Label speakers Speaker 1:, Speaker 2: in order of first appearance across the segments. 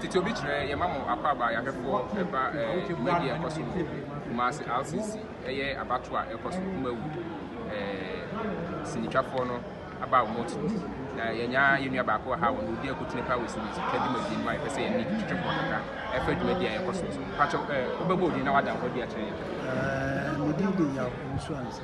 Speaker 1: Tete obi kyerɛ yɛma mo akwaaba ayahwɛfoɔ ɛba dwumadie a ɛkɔ so wɔ Kumasi RCC ɛyɛ abatoɔ a ɛkɔ so kuma wu sinitwafoɔ no aba wɔn ti na yɛnya yɛn nua baako wɔ ha a wɔn odi akutene paa wɔ sinitwa dwumadie no mu a yɛpɛ sɛ yɛne twitwefoɔ kakra ɛfa dwumadie a ɛkɔ so so mpakyɛ wobɛbɔ odin na wada ho adi akyerɛ yɛn. Medin
Speaker 2: de Yaw Nsuansa.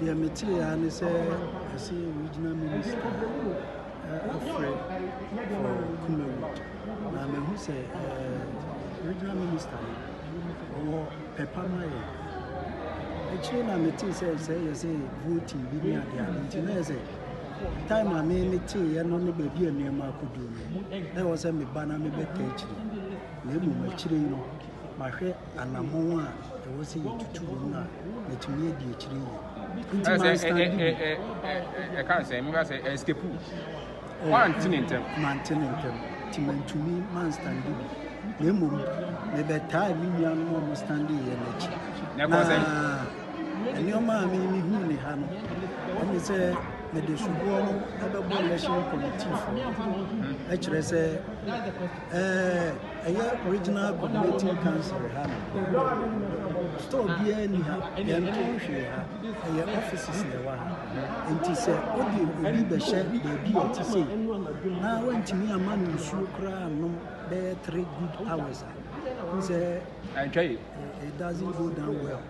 Speaker 2: Deɛ metee ara ne sɛ wɔse regional minister afrɛ for Kumawu na mahu sɛ regional minister no ɔwɔ pɛ pa ma yɛn. Akyire na metee sɛ sɛ yɛse voting bi ne adeɛ a nti na yɛ sɛ time a me meteeɛ no ne baabi a nneɛma akɔduru no na ɛwɔ sɛ meba na mebɛtaa akyire na mmom akyire yi no mahwɛ anammɔn a ɛwɔ sɛ yɛtutu wɔ mu a matumi adi akyire yie nti manstande bi
Speaker 1: ɛka sɛ meka sɛ ɛskapu wante ne ntɛm mante ne ntɛm nti
Speaker 2: mantumi manstande bi na mmom mebɛtaa me nuanom a wɔstande yɛ no akyi na nneɛma a memehu ne ha no ɛne sɛ mede soboɔ no ɛbɛbɔ election committee fo ɛkyerɛ sɛ Eh, ɛyɛ regional coordinating council ha no. Store biara ni ha, yɛntɔn hwee ha. Ɛyɛ offices na ɛwɔ ha. Nti sɛ wode obi bɛhyɛ baabi a ɛte sei na woantumi ama no nsuo koraa nom bɛyɛ three good hours a, n sɛ it doesn't go down well.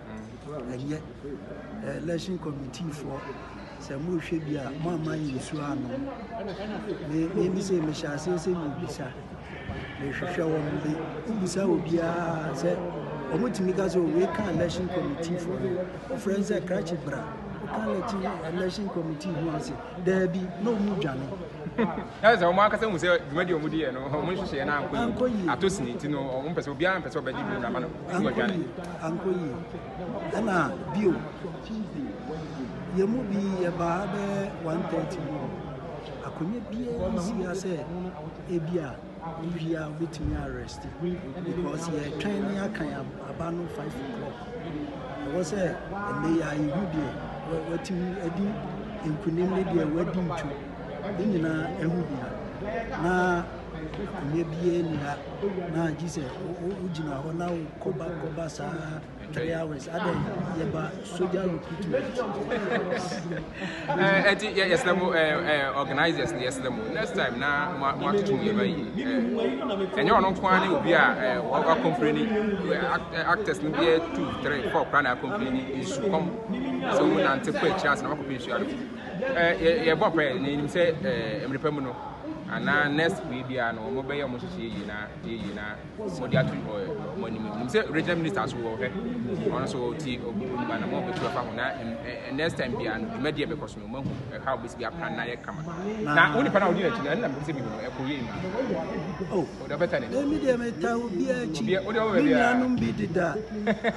Speaker 2: Ɛnyɛ. Election committee foɔ sɛ morehwɛ bi a moamma yɛ nsuo anom. Me me sɛ mehyɛ aseɛ sɛ mebisa mehwehwɛ wɔn de wobisa obiara sɛ wɔtumi ka sɛ wei ka election committee foɔ no wofrɛ sɛ krakye bra woka election election committee ho ase daabi na ɔmu dwane ɛsɛ sɛ
Speaker 1: wɔn ankasa hu sɛ dwumadi wɔn di yɛ no wɔn nhyehyɛ no ankɔ yie ato sini nti no wɔn mpɛ sɛ obiara mpɛ sɛ ɔbɛgye bi na ama no sɛ wɔdwane ankɔ yie Ɛna bio, yɛn mu bi yɛbaa bɛyɛ 1:30 mu hɔ. Akonnwa biara nsi ha sɛ ebia obiara wobɛtumi a rest because yɛtwɛn ne akan aba no 5 o'clock. Ɛwɔ sɛ ɛnɛ yi ara yɛhu deɛ wa- watumi adi nkunim ne deɛ wadi ntu. Ne nyinaa ɛho hia. Na Akonnwa biara nni ha. Na gye sɛ wogyina hɔ na wokɔba kɔba saa three hours. Adɛn yɛba soja recruitment. Ɛnti eh, yɛsrɛ mo eh, eh, organizers no yɛsrɛ mo next time na moatoto mu yɛma yie. Ɛnyɛ ɔno nko ara ne obi a wakɔmpleni actors no bɛyɛ two three four koraa na akɔmpleni nsukɔm sɛ wɔnante kɔ akyiri ase na wakɔpɛ nsuo anom. yɛbɔ pɛ na yɛnim sɛ mmerɛ pa mu no anaa next wei biara no wɔn bɛyɛ wɔn hyehyɛ yie na yie na wɔde ato wɔn anim nim sɛ regional minister so wɔ hɛ wɔn nso ti ɔba na wɔn bɛtu afa ho na next time biara no dwumadie a bɛkɔ so no wɔn ahu ɛha a wɔbɛsi bi apra na yɛ kama na wɔn nipa na wɔdi n'akyi na ɛna mɛsɛ bi no ɛkɔ yie ma ɔde ɔbɛta ne ɛmi deɛ mɛta obi akyi mi nuanom bi deda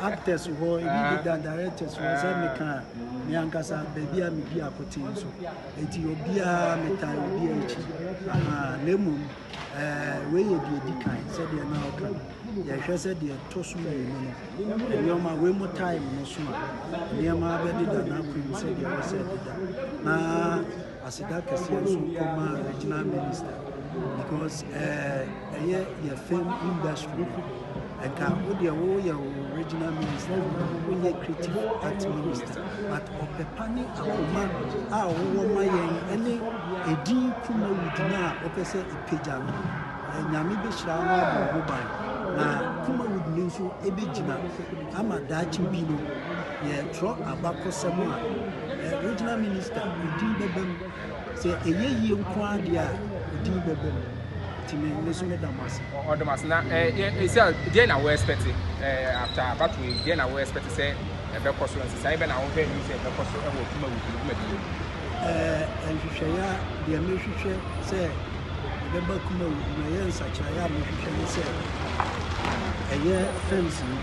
Speaker 1: actors hɔ ebi deda directors hɔ sɛ meka Me ankasa, baabi a medi akoten nso, enti obiara metaa obiara akyi. Aha, na mmom ɛɛ wei yɛ deɛ di kan sɛdeɛ na ɔka no. Yɛhwɛ sɛ deɛ ɛtɔ so mmienu no, nneɛma wei mo time no so a nneɛma bɛdeda n'akwan mu sɛdeɛ ɛwɔ sɛ ɛdeda na. Aseda kɛseɛ nso kɔma regional minister because eh, ɛyɛ yɛ film industry ɛka wo deɛ woyɛ wo regional minister woyɛ creative art minister but ɔpɛpa ne akoma a wowɔ ma yɛn ɛne ɛdin kuma wudina a wopɛ sɛ ɛpagya no nyame bɛhyira wo abɔ ho ban na kuma wudini nso ɛbɛgyina Ama daakye bi no, yɛretrɔ abakɔsɛm a Regional Minister din bɛba mu. Sɛ ɛyɛ yie nko ara deɛ a, din bɛba mu. Nti me nso meda mo ase. Ɔdɔ mo ase. Na ɛsɛ deɛ na wo expect after abato yi, deɛ na wo expect sɛ ɛbɛkɔ so, nsesaeɛ bɛ na wo hwɛ anim sɛ ɛbɛkɔ so wɔ dwuma wɔ dwuma bi mu. Ɛɛ,
Speaker 2: nhwehwɛeɛ a deɛ mehwehwɛ sɛ ɛbɛba kuma mu na ɛyɛ nsakyeraeɛ a mehwehwɛ ne sɛ ɛyɛ
Speaker 1: fence no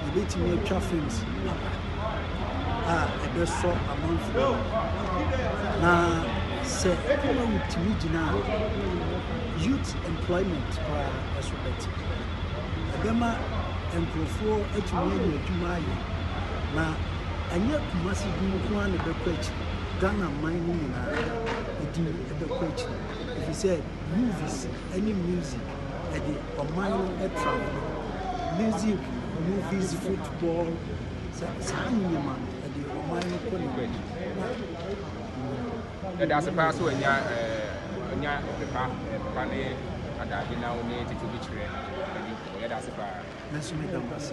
Speaker 1: yɛbɛtumi atwa fence no papa a ɛbɛsɔ amanfoɔ na sɛ kuma mu tumi gyina a youth employment koraa ɛso bɛte ɛbɛma nkurɔfoɔ atumi anya adwuma ayɛ na Ɛnyɛ Kumasi din nko ara na ɛbɛkɔ akyiri, Ghana man no nyinaa din bɛkɔ akyiri efisɛ movies ne music de ɔman no tra hɔ. Music, movies, football, saa nneɛma no ɛde ɔman no kɔ n'anim.
Speaker 3: Yɛda ase paa sɛ wanya anya pepa papa ne adaade na wo
Speaker 1: ne
Speaker 3: tete bi kyerɛ ɛdi nkɔmɔ. Yɛda ase paa. Nanso meda mo
Speaker 1: ase.